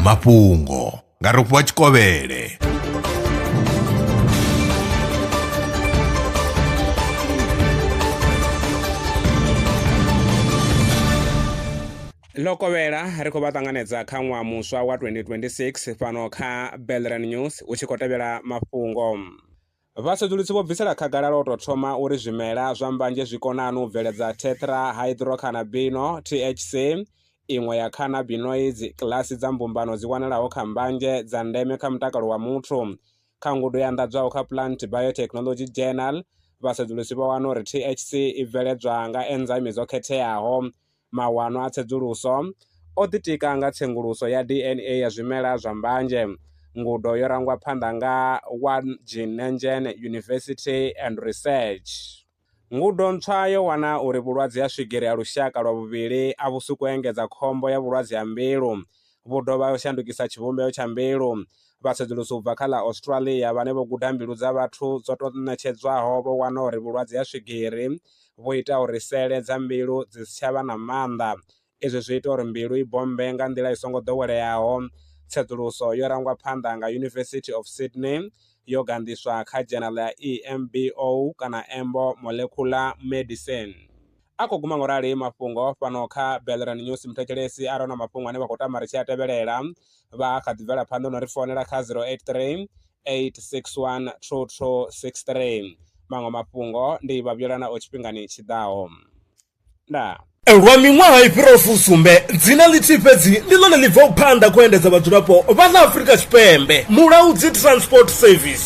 mafhungo nga rofhiwa tshikovhele ḽo kovhela ri khou vha ṱanganedza kha ṅwaha muswa wa 2026 fhano kha belran news u tshi khou tevhela mafhungo Vhasedzulusi vho bvisela khagala lwa u tou thoma uri zwimela zwa mbanzhe zwi kona hani u bveledza tetrahydrocannabino, THC, iṅwe ya cannabinoids, kilasi dza mbumbano dzi wanalaho kha mbanzhe dza ndeme kha mutakalo wa muthu. Kha ngudo ya anḓadzwaho kha Plant Biotechnology Journal, vhasedzulusi vho wana uri THC i bveledzwa nga enzaimi dzo khetheaho Mawanwa a tsedzuluso o ḓitika nga tsenguluso ya DNA ya zwimela zwa mbanzhe. Ngudo yo rangwa phanḓa nga Wageningen University and Research. Ngudo ntswa yo wana uri vhulwadze ha swigiri ha lushaka lwa vhuvhili a vhu suku engedza khombo ya vhulwadze ha mbilu Vho dovha vha shandukisa tshivhumbeo tsha mbilu, vha sedzulusa u bva kha ḽa Australia vhane vho guda mbilu dza vhathu dzo tou ṋetshedzwaho vho wana uri vhulwadze ha swigiri vhu ita uri sele dza mbilu dzi si tsha vha na maanḓa. Izwi zwi ita uri mbilu i bommbe nga nḓila i songo ḓoweleaho. Tsedzuluso yo rangwa phanḓa nga University of Sydney yo ganḓiswa kha dzhenala ya EMBO kana Embo Molecular Medicine. A khou guma nga u rali mafhungo fhano kha Belran News. Muthetshelesi a re na mafhungo ane vha khou tama ri tshi a tevhelela vha a kha ḓi bvela phanḓa no ri founela kha 083 861 2263. Maṅwe mafhungo ndi vha vhuyelana o tshifhingani tshi ḓaho. Ndaa. Lwa miṅwaha i fhiraho fusumbe, dzina ḽithihi fhedzi ndi ḽone ḽi bvaho phanḓa khou endedza vhadzulapo vha ḽa Afrika Tshipembe, Mulaudzi Transport Service.